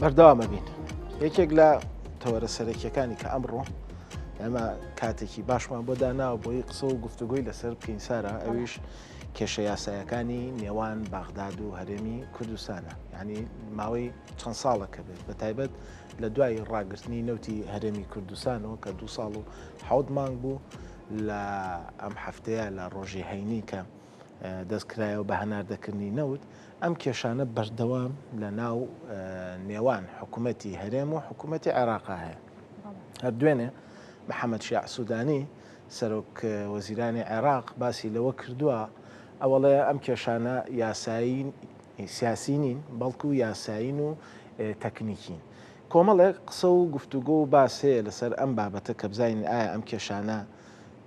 بەردەوامە بین یەکێک لە تەوەرە سەرەکیەکانی کە ئەمڕۆ ئەمە کاتێکی باشمان بۆ داناوە بۆی قسە و گفتوگوی لەسەر بکەین سارا ئەویش کێشە یاسایەکانی نێوان بەغداد و هەرێمی کوردستانە ینی ماوەی چەند ساڵە کە بێت بە تایبەت لە دوای ڕاگررتنی نەوتی هەرێمی کوردستانەوە کە دو ساڵ و حوت مانگ بوو لە ئەم هەفتەیە لە ڕۆژی هەینی کە دەستکرایەوە بە هەناردەکردنی نەوت، ئەم کێشانە بەردەوام لە ناو نێوان حکوومەتی هەرێم و حکوومەتی عێراقا هەیە هەر دوێنێ محەممەد شیع سوودانی سەرۆک وەزیرانی عێراق باسی لەوە کردووە ئەوڵێ ئەم کێشانە یاسایی سیاسی نین بەڵکو و یاسایین و تەکنیکین کۆمەڵێک قسە و گفتوگۆ و باسەیە لەسەر ئەم بابەتە کە بزانین ئایا ئەم کێشانە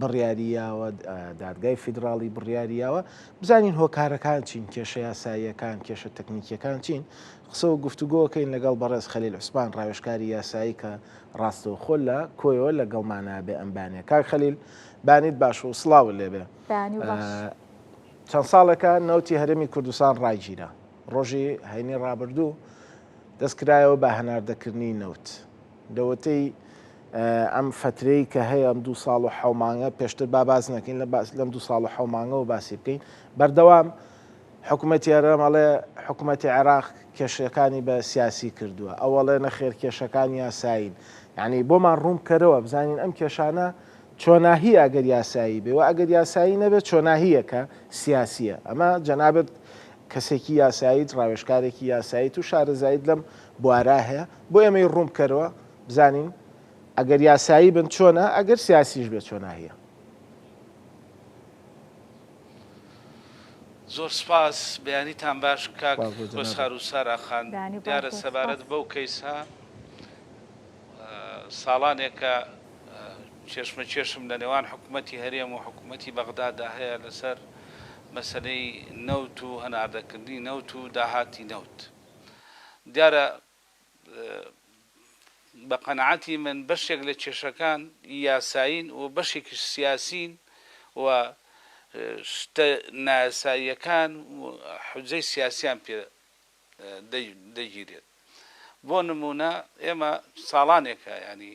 بڕیاری یاوە، دادگای فیدراڵی بڕیاری یاوە، بزانین هۆکارەکان چین، کێشە یاساییەکان، کێشە تەکنیکیەکان چین، قسە و گفتوگۆکەین لەگەڵ بەڕێز خەلیل عوسمان ڕاوێژکاری یاسایی کە ڕاستەوخۆ لە کۆیەوە لەگەڵمانە بێ ئەم بانە. کاک خەلیل بانیت باش و سڵاوت لێ بێ. بەیانی باش. چەند ساڵێکە نەوتی هەرێمی کوردستان ڕاگیرا. ڕۆژی هەینی ڕابردوو دەستکرایەوە بە هەناردەکردنی نەوت. لەوەتەی ئەم فەترەی کە هەیە ئەم دوو ساڵ و حەو مانگە پێشتر با باس نەکەین لەم دوو ساڵ و حەو مانگەوە باسی بکەین بەردەوام حکومەتی هەرێم ئەڵێ حکومەتی عێراق کێشەکانی بە سیاسی کردووە ئەو ئەڵێ نەخێر کێشەکان یاسایین یعنی بۆمان ڕوون بکەرەوە بزانین ئەم کێشانە چۆناهیە ئەگەر یاسایی بێ و ئەگەر یاسایی نەبێت چۆناهیە کە سیاسیە ئەمە جەنابت کەسێکی یاساییت ڕاوێژکارێکی یاساییت و شارەزاییت لەم بوارە هەیە بۆ ئێمەی ڕوون بکەرەوە بزانین ئەگەر یاسایی بن چۆنە ئەگەر سیاسیش بێ چۆناهیە. زۆر سپاس بەیانیتان باش کاک کۆسار و سارا خان دیارە سەبارەت بەو کەیسە ساڵانێکە کێشمەکێشم لە نێوان حکوومەتی هەرێم و حکوومەتی بەغدادا هەیە لەسەر مەسلەی نەوت و هەناردەکردنی نەوت و داهاتی نەوت دیارە بە قەناعەتی من بەشێک لە کێشەکان یاسایین و بەشێکیش سیاسیین و شتە نایاساییەکان حوجەی سیاسیان پێ دەگیرێت بۆ نموونە ئێمە ساڵانێکە یانی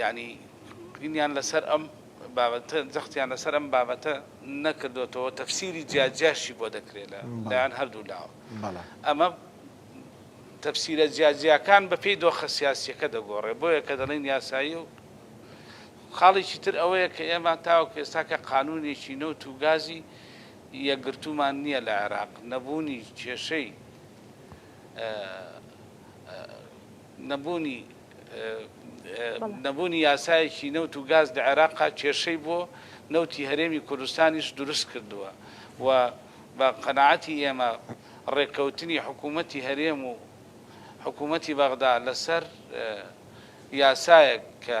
یانی قنیان لەسەر ئەم بابەتە جەختیان لەسەر ئەم بابەتە نەکردۆتەوە تەفسیری جیا جیاشی بۆ دەکرێت لە لایەن هەردوو لاوە ئەمە تەفسیرە جیا جیاکان بە پێی دۆخە سیاسیەکە دەگۆڕێ بۆیە کە دەڵێن یاسایی و خاڵێکی تر ئەوەیە کە ئێمە تاوەکو ئێستاکە قانونێکی نەوت و گازی یەکگرتومان نییە لە عێراق نەبوونی کێشەی نەبوونی نەبوونی یاسایەکی نەوت و گاز لە عێراقا کێشەی بۆ نەوتی هەرێمی کوردستانیش دروست کردووە و بە قەناعەتی ئێمە ڕێککەوتنی حکوومەتی هەرێم و حکوومەتی بەغدا لەسەر یاسایەک کە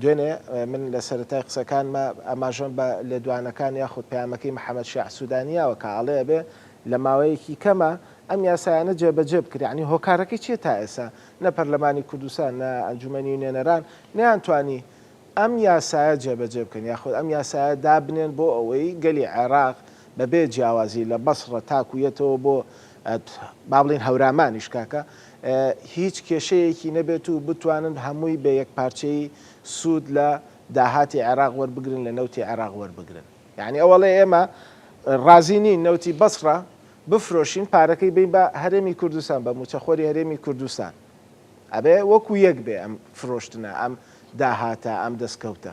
دوێنێ من لە سەرەتای قسەکانما ئاماژەم بە لێدوانەکان یاخود پەیامەکەی محەمەد شیاع سودانی یاوە کە ئەڵێ ئەبێ لە ماوەیەکی کەما ئەم یاسایانە جێبەجێ بکرێ یانی هۆکارەکەی چیە تا ئێسا نە پەرلەمانی کوردستان نە ئەنجومەنی نوێنەران نەیانتوانی ئەم یاسایە جێبەجێ بکەن یاخود ئەم یاسایە دابنێن بۆ ئەوەی گەلی عێراق بەبێ جیاوازی لە بەسڕە تاکو یەتەوە بۆ با بڵێین هەورامانیش کاکە، هیچ کێشەیەکی نەبێت و بتوانن هەمووی بە یەکپارچەیی سوود لە داهاتی عێراق وەربگرن، لە نەوتی عێراق وەربگرن. یەعنی ئەو ئەڵێ ئێمە ڕازی نین نەوتی بەسڕە بفرۆشین، پارەکەی بەین بە هەرێمی کوردستان، بە مووچەخۆری هەرێمی کوردستان. ئەبێ وەکو یەک بێ ئەم فرۆشتنە، ئەم داهاتە، ئەم دەستکەوتە.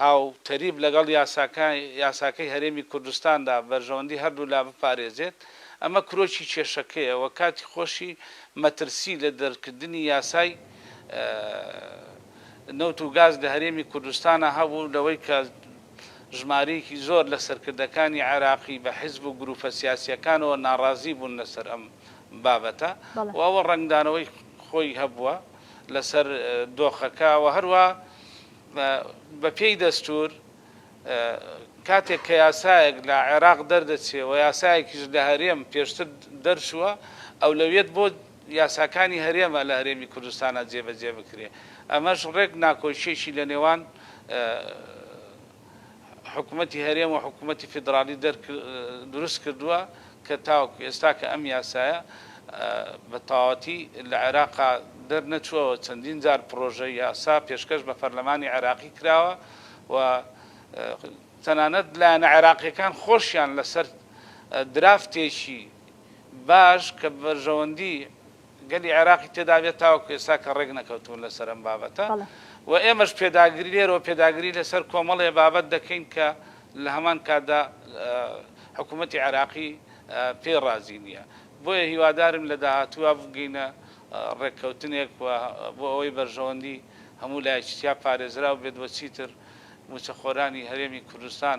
هاوتەریب لەگەڵ یاساکەی هەرێمی کوردستاندا بەرژەوەندی هەردوولا بپارێزێت، ئەمە کرۆکی کێشەکەیە و کاتی خۆشی مەترسی لە دەرکردنی یاسای نەوت و گاز لە هەرێمی کوردستانا هەبوو لەوەی کە ژمارەیەکی زۆر لە سەرکردەکانی عێراقی بە حیزب و گروپە سیاسییەکانەوە ناڕازی بوون لەسەر ئەم بابەتە و ئەوە ڕەنگدانەوەی خۆی هەبووە. لەسەر دۆخەکە و هەروا بە پێی دەستوور کاتێک کە یاسایەک لە عێراق دەردەچێ و یاسایەکیش لە هەرێم پێشتر دەرچووە ئەولەویەت بۆ یاساکانی هەرێمە لە هەرێمی کوردستانا جێبەجێ بکرێ ئەمەش ڕێک ناکۆکیەکی لە نێوان حکومەتی هەرێم و حکومەتی فیدراڵی دروست کردووە کە تاوەکو ئێستا کە ئەم یاسایە بە تەواوەتی لە عێراقا دەرنەچووە و چەندین جار پڕۆژە یاسا پێشکەش بە پەرلەمانی عێراقی کراوە و تەنانەت لایەنە عێراقییەکان خۆشیان لەسەر درافتێکی باش کە بەرژەوەندی گەلی عێراقی تێدا بێت تاوەکو ئێستا کە ڕێک نەکەوتوون لەسەر ئەم بابەتە و ئێمەش پێداگری لێرەوە پێداگری لەسەر کۆمەڵێ بابەت دەکەین کە لە هەمان کاتدا حکوومەتی عێراقی پێی ڕازی نییە بۆیە هیوادارم لە داهاتووا بگەینە ڕێککەوتنێک و بۆ ئەوەی بەرژەوەندی هەموو لایەکی تیا پارێزراو بێت و چیتر مووچەخۆرانی هەرێمی کوردستان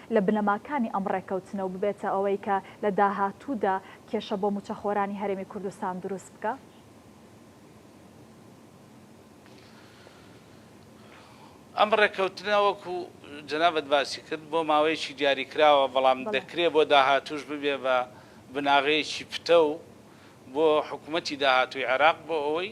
لە بنەماکانی ئەم ڕێککەوتنە و ببێتە ئەوەی کە لە داهاتوودا کێشە بۆ مووچەخۆرانی هەرێمی کوردستان دروست بکا؟ ئەم ڕێککەوتنە وەکو جەنابت باسی کرد بۆ ماوەیەکی دیاریکراوە، بەڵام دەکرێ بۆ داهاتووش ببێ بە بناغەیەکی پتەو بۆ حکوومەتی داهاتووی عێراق بۆ ئەوەی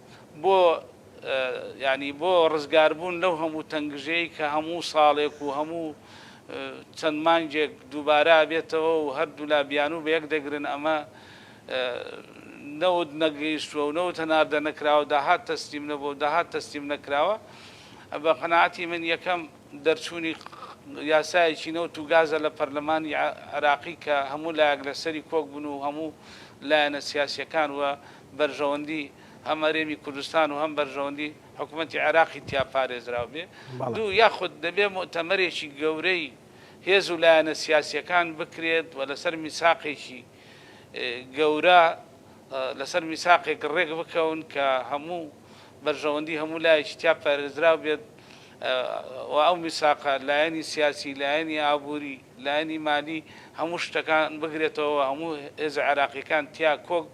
بۆ یانی بۆ ڕزگاربوون لەو هەموو تەنگژەی کە هەموو ساڵێک و هەموو چەند مانگێک دووبارە ئەبێتەوە و هەردوولا بیانوو بە یەک دەگرن ئەمە نەوت نەگەیشتووە و نەوت هەناردە نەکراوە داهات تەسلیم نەبووە و داهات تەسلیم نەکراوە بە قەناعەتی من یەکەم دەرچوونی یاسایەکی نەوت و گازە لە پەرلەمانی عێراقی کە هەموو لایەک لەسەری کۆک بن و هەموو لایەنە سیاسیەکان و بەرژەوەندی هەم هەرێمی کوردستان و هەم بەرژەوەندی حکومەتی عێراقی تیا پارێزراو بێ. دوو، یاخود دەبێ موئتەمەرێکی گەورەی هێز و لایەنە سیاسییەکان بکرێت و لەسەر میساقێکی گەورە، لەسەر میساقێک ڕێک بکەون کە هەموو بەرژەوەندی هەموو لایەکی تیا پارێزراو بێت و ئەو میساقە لایەنی سیاسی، لایەنی ئابووری، لایەنی مالی هەموو شتەکان بگرێتەوە و هەموو هێزە عێراقییەکان تیا کۆک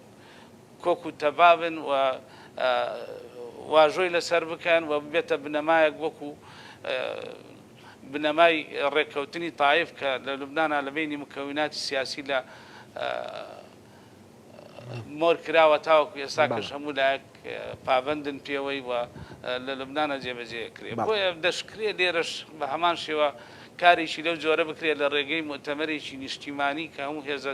کۆک و تەبابن و واژۆی لەسەر بکەن و ببێتە بنەمایەک وەکو بنەمای ڕێککەوتنی تایف کە لە لوبنانا لە بەینی مکەویناتی سیاسی لە مۆر کراوە تاوەکو ئێستا کەش هەموو لایەک پابەندن پێوەی و لە لوبنانا جێبەجێ کرێ بۆیە دەشکرێ لێرەش بە هەمان شێوە کارێکی لەو جۆرە بکرێ لە ڕێگەی موئتەمەرێکی نیشتیمانی کە هەموو هێزە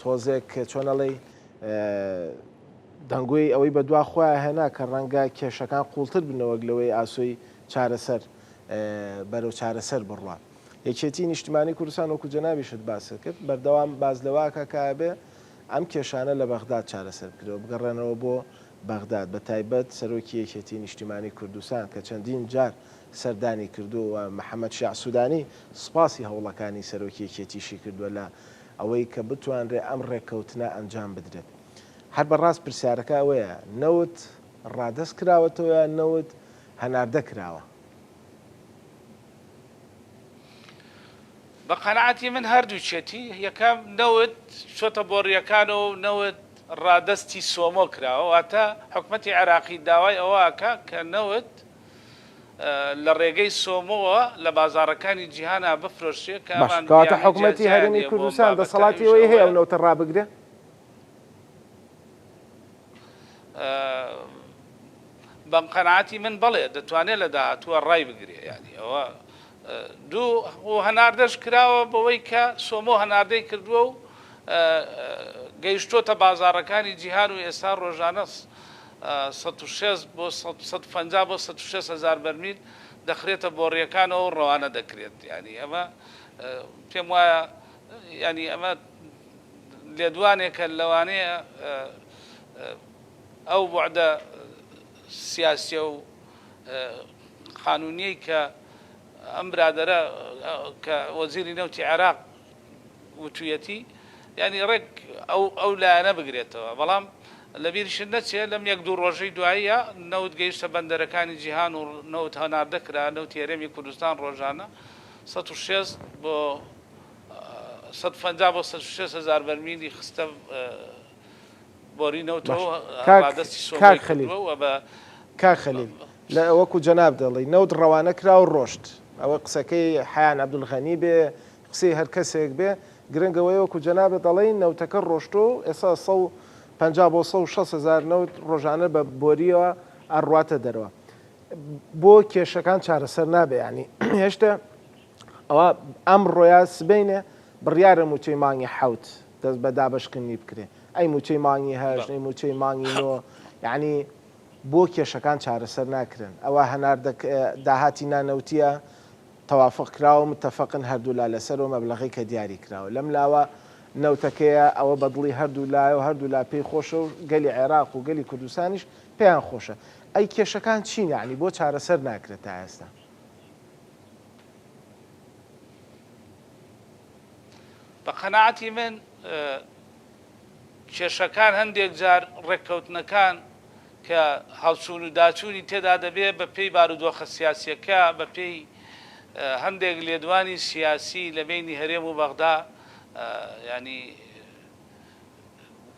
تۆزێک چۆن ئەڵێی دەنگۆی ئەوەی بەدوا خۆیان هێنا کە ڕەنگە کێشەکان قوڵتر بنەوەک لەوەی ئاسۆی چارەسەر بەرەو چارەسەر بڕوات. یەکێتی نیشتمانی کوردستان وەکو جەنابیشت باست کرد بەردەوام باز لەواکە کابێ ئەم کێشانە لە بەغداد چارەسەر بکرەوە بگەڕێنەوە بۆ بەغداد بە تایبەت سەرۆکی یەکێتی نیشتیمانی کوردستان کە چەندین جار سەردانی کردو و محەممەد شیع سوودانی سپاسی هەوڵەکانی سەرۆکی یەکێتیشی کردووە لە ئەوەی کە بتوانرێت ئەم ڕێککەوتنە ئەنجام بدرێت. هەر بە ڕاست پرسیارەکە ئەوەیە نەوت ڕادەست کراوەتەوە یان نەوت هەناردە کراوە؟ بە قەناعەتی من هەردووکیەتی، یەکەم نەوت چۆتە بۆڕیەکانەوە و نەوت ڕادەستی سۆمۆ کراوە، واتە حکومەتی عێراقی داوای ئەوە ئەکات کە نەوت لە ڕێگەی سۆمۆوە لە بازاڕەکانی جیهانا بفرۆشرێ کە ئەمان باشە کەواتە بیانوی جیا حکومەتی جیایان هەرێمی هەیە بۆم کوردستان بابەتە دەسەڵاتی ئەویش ئەوەی هەیە ئەو ئەوەیە نەوتە ڕابگرێ؟ بەم قەناعەتی من بەڵێ دەتوانێ لە داهاتووە ڕای بگرێ یانی ئەوە دوو و هەناردەش کراوە بەوەی کە سۆمۆ هەناردەی کردووە و گەیشتۆتە بازاڕەکانی جیهان و ئێستا ڕۆژانە سەد و شەست بۆ سەد سەد و پەنجا بۆ سەد و شەست هەزار بەرمیل دەخرێتە بۆڕییەکانەوە و ڕەوانە دەکرێت یانی ئەمە پێم وایە یانی ئەمە لێدوانێکە لەوانەیە ئەو بوعدە سیاسیە و قانونیەی کە ئەم برادرە کە وەزیری نەوتی عێراق وتویەتی یعنی ڕێک ئەو ئەو لایەنە بگرێتەوە بەڵام لەبیرشت نەچێ لەم یەک دوو ڕۆژەی دواییە نەوت گەیشتە بەندەرەکانی جیهان و نەوت هەناردە کرا، نەوتی هەرێمی کوردستان ڕۆژانە سەد و شێست بۆ سەد و پەنجا بۆ سەد و شێست هەزار بەرمیلی خستە بۆری نەوتەوە و ڕادەستی سۆمۆی کردووە و بە. کاک خەلیل لە وەکو جەناب دەڵی نەوت ڕەوانە کرا و ڕۆشت ئەوە قسەکەی حەیان عەبدولغەنی بێ قسەی هەر کەسێک بێ گرنگ ئەوەیە وەکو جەنابت ئەڵێی نەوتەکە ڕۆشتوە و ئێستا سەد و پەنجا بۆ سەد و شەست هەزار نەوت ڕۆژانە بە بۆریەوە ئەڕواتە دەرەوە بۆ کێشەکان چارەسەر نابێ یانی هێشتا ئەوە ئەمڕۆیا سبەینێ بڕیارە مووچەی مانگی حەوت دەست بە دابەشکردنی بکرێ ئەی مووچەی مانگی هەشت ئەی مووچەی مانگی نۆ یعنی بۆ کێشەکان چارەسەر ناکرێن ئەوە هەناردە داهاتی نانەوتیە توافق کراوە متفقن هەردوولا لەسەر و مەبلەغەی کە دیاری کراوە لەم لاوە نەوتەکەیە ئەوە بە دڵی هەردوو لایەو هەردوو لا پێی خۆشە و گەلی عێراق و گەلی کوردستانیش پێیان خۆشە ئەی کێشەکان چین یەعنی بۆ چارەسەر ناکرێت تا ئێستا؟ بە قەناعەتی من کێشەکان هەندێک جار ڕێککەوتنەکان کە هەڵچوون و داچوونی تێدا دەبێت بە پێی بارودۆخە سیاسییەکە بە پێی هەندێک لێدوانی سیاسی لە بەینی هەرێم و بەغدا یانی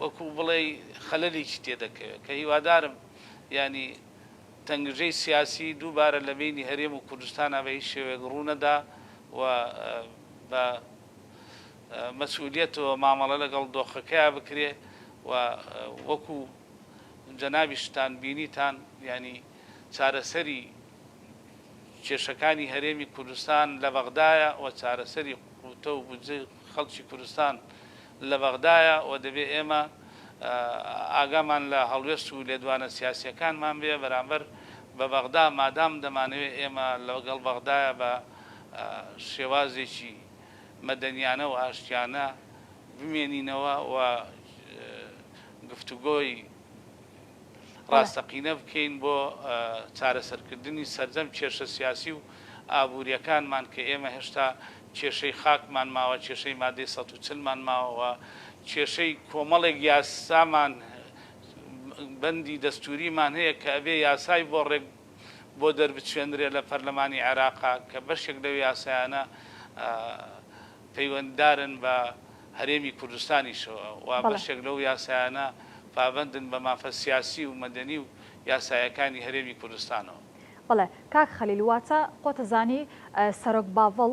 وەکوو بڵێی خەلەلێکی تێ دەکەوێت کە هیوادارم یانی تەنگژەی سیاسی دووبارە لە بەینی هەرێم و کوردستانا بە هیچ شێوەیەک ڕوو نەدا و بە مەسئولیەت و مامەڵە لەگەڵ دۆخەکەیا بکرێ و وەکو جەنابیشتان بینیتان یانی چارەسەری کێشەکانی هەرێمی کوردستان لە بەغدایە و چارەسەری قوتە و بودجەی خەڵکی کوردستان لە بەغدایە و دەبێ ئێمە ئاگامان لە هەڵوێست و لێدوانە سیاسیەکانمان بێ بەرامبەر بە بەغدا مادام دەمانەوێ ئێمە لەگەڵ بەغدایە بە شێوازێکی مەدەنیانە و ئاشتیانە بمێنینەوە و گفتوگۆی ڕاستەقینە بکەین بۆ چارەسەرکردنی سەرجەم کێشە سیاسی و ئابوورییەکانمان کە ئێمە هێشتا کێشەی خاکمان ماوە، کێشەی مادەی سەد و چل مان ماوە و کێشەی کۆمەڵێک یاسامان، بەندی دەستووریمان هەیە کە ئەبێ یاسای بۆ ڕێک بۆ دەربچوێنرێت لە پەرلەمانی عێراق کە بەشێک لەو یاسایانە پەیوەنددارن بە هەرێمی کوردستانیشەوە و بەشێک لەو یاسایانە پابەندن بە مافە سیاسی و مەدەنی و یاسایەکانی هەرێمی کوردستانەوە. بەڵێ کاک خەلیل واتە قۆتە زانی سەرۆک باڤڵ.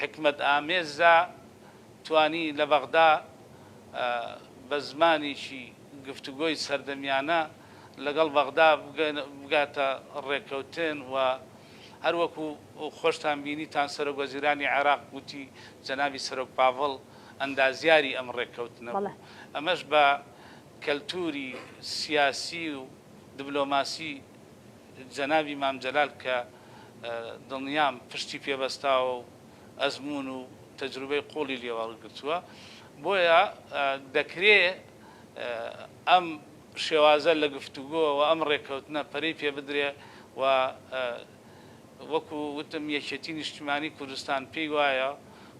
حیکمەت ئامێزدا توانی لە بەغدا بە زمانێکی گفتوگۆی سەردەمیانە لەگەڵ بەغدا بگاتە ڕێککەوتن و هەر وەکو خۆشتان بینیتان سەرۆک وەزیرانی عێراق گوتی جەنابی سەرۆک پاڤڵ ئەندازیاری ئەم ڕێککەوتنە بوو ئەمەش بە کەلتوری سیاسی و دبلۆماسی جەنابی مام جەلال کە دڵنیام پشتی پێ بەستاوە و ئەزموون و تەجروبەی قووڵی لێ وەرگرتووە، بۆیە دەکرێ ئەم شێوازە لە گفتوگۆ و ئەم ڕێککەوتنە پەرەی پێ بدرێ و وەکو وتم یەکێتی نیشتیمانی کوردستان پێی وایە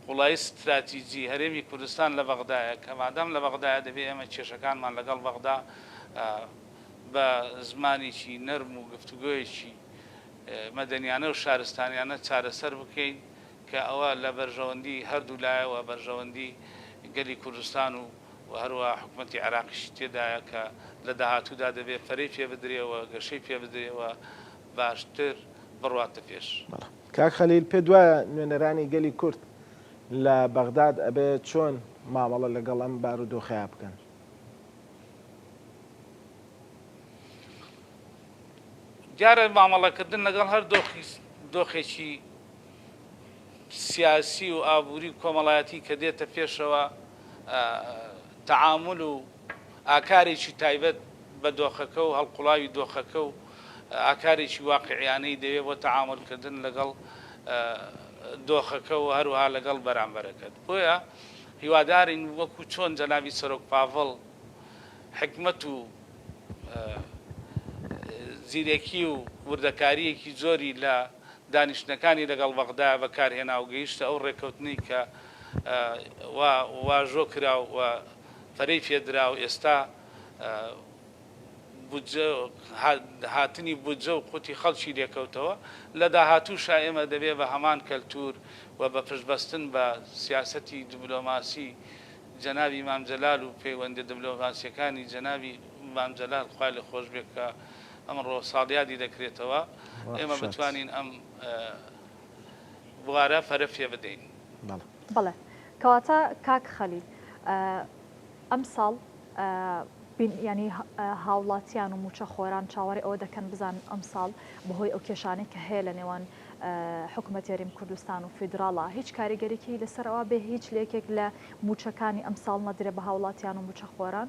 قوڵایی ستراتیجی هەرێمی کوردستان لە بەغدایە کە مادام لە بەغدایە دەبێ ئێمە کێشەکانمان لەگەڵ بەغدا بە زمانێکی نەرم و گفتوگۆیەکی مەدەنیانە و شارستانیانە چارەسەر بکەین کە ئەوە لە بەرژەوەندی هەردوو لایە و بەرژەوەندی گەلی کوردستان و و هەروەها حکومەتی عێراقیشی تێدایە کە لە داهاتوودا دەبێ پەرەی پێ بدرێ و گەشەی پێ بدرێ و باشتر بڕواتە پێش. بەڵێ. کاک خەلیل پێت وایە نوێنەرانی گەلی کورد لە بەغداد ئەبێ چۆن مامەڵە لەگەڵ ئەم بارودۆخەیا بکەن؟ دیارە مامەڵەکردن لەگەڵ هەر دۆخێکی سیاسی و ئابووری و کۆمەڵایەتی کە دێتە پێشەوە تەعامول و ئاکارێکی تایبەت بە دۆخەکە و هەڵقوڵاوی دۆخەکە و ئاکارێکی واقعیانەی دەوێت بۆ تەعامولکردن لەگەڵ دۆخەکە و هەروەها لەگەڵ بەرامبەرەکەت. بۆیە هیوادارین وەکو چۆن جەنابی سەرۆک پاڤڵ حیکمەت و زیرەکی و وردەکارییەکی زۆری لە دانیشتنەکانی لەگەڵ بەغدا بەکارهێنا و گەیشتە ئەو ڕێککەوتنەی کە واژۆ کرا و پەرەی پێ درا و ئێستا بودجە و هاتنی بودجە و قوتی خەڵکی لێکەوتەوە، لە داهاتووشا ئێمە دەبێ بە هەمان کەلتوور و بە پشتبەستن بە سیاسەتی دبلۆماسی جەنابی مام جەلال و پەیوەندیە دبلۆماسیەکانی جەنابی مام جەلال خوای لێ خۆش بێ کە ئەمڕۆ ساڵیادی دەکرێتەوە ئێمە بتوانین ئەم بوارە پەرە پێ بدەین. بەڵێ. کەواتە کاک خەلیل ئەمساڵ بین یانی هاوڵاتیان و مووچە خۆران چاوەڕێ ئەوە دەکەن بزان ئەمساڵ بەهۆی ئەو کێشانەی کە هەیە لە نێوان حکوومەت یارییم کوردستان و فیدراڵە هیچ کاریگەریکی لەسەرەوە بێ هیچ لەکێک لە مووچەکانی ئەمساڵ نەدرێ بە هاوڵاتیان و مووچە خۆران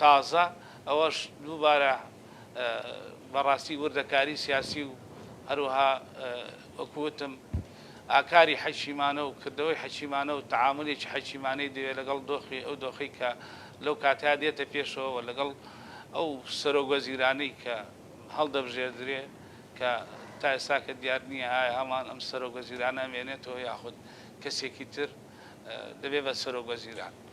تازە ئەوەش دووبارە بەڕاستی وردەکاری سیاسی و هەروەها وەکو وتم ئاکاری حەکیمانە و کردەوەی حەکیمانە و تەعامولێکی حەکیمانەی دەوێت لەگەڵ دۆخی ئەو دۆخەی کە لەو کاتەیا دێتە پێشەوە و لەگەڵ ئەو سەرۆک وەزیرانەی کە هەڵدەبژێردرێ کە تا ئێستاکە دیار نییە ئایا هەمان ئەم سەرۆک وەزیرانە ئەمێنێتەوە یاخود کەسێکی تر دەبێ بە سەرۆک وەزیران.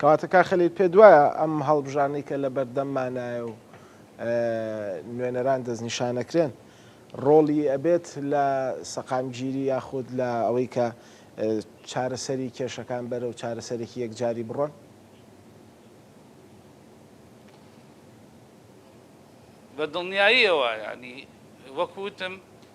کەواتە کاک خەلیل پێت وایە ئەم هەڵبژاردنەی کە لە بەردەممانایە و نوێنەران دەستنیشانەکرێن ڕۆڵی ئەبێت لە سەقامگیری یاخود لە ئەوەی کە چارەسەری کێشەکان بەرەو چارەسەرێکی یەکجاری بڕۆن؟ بە دڵنیاییەوە یانی وەک وتم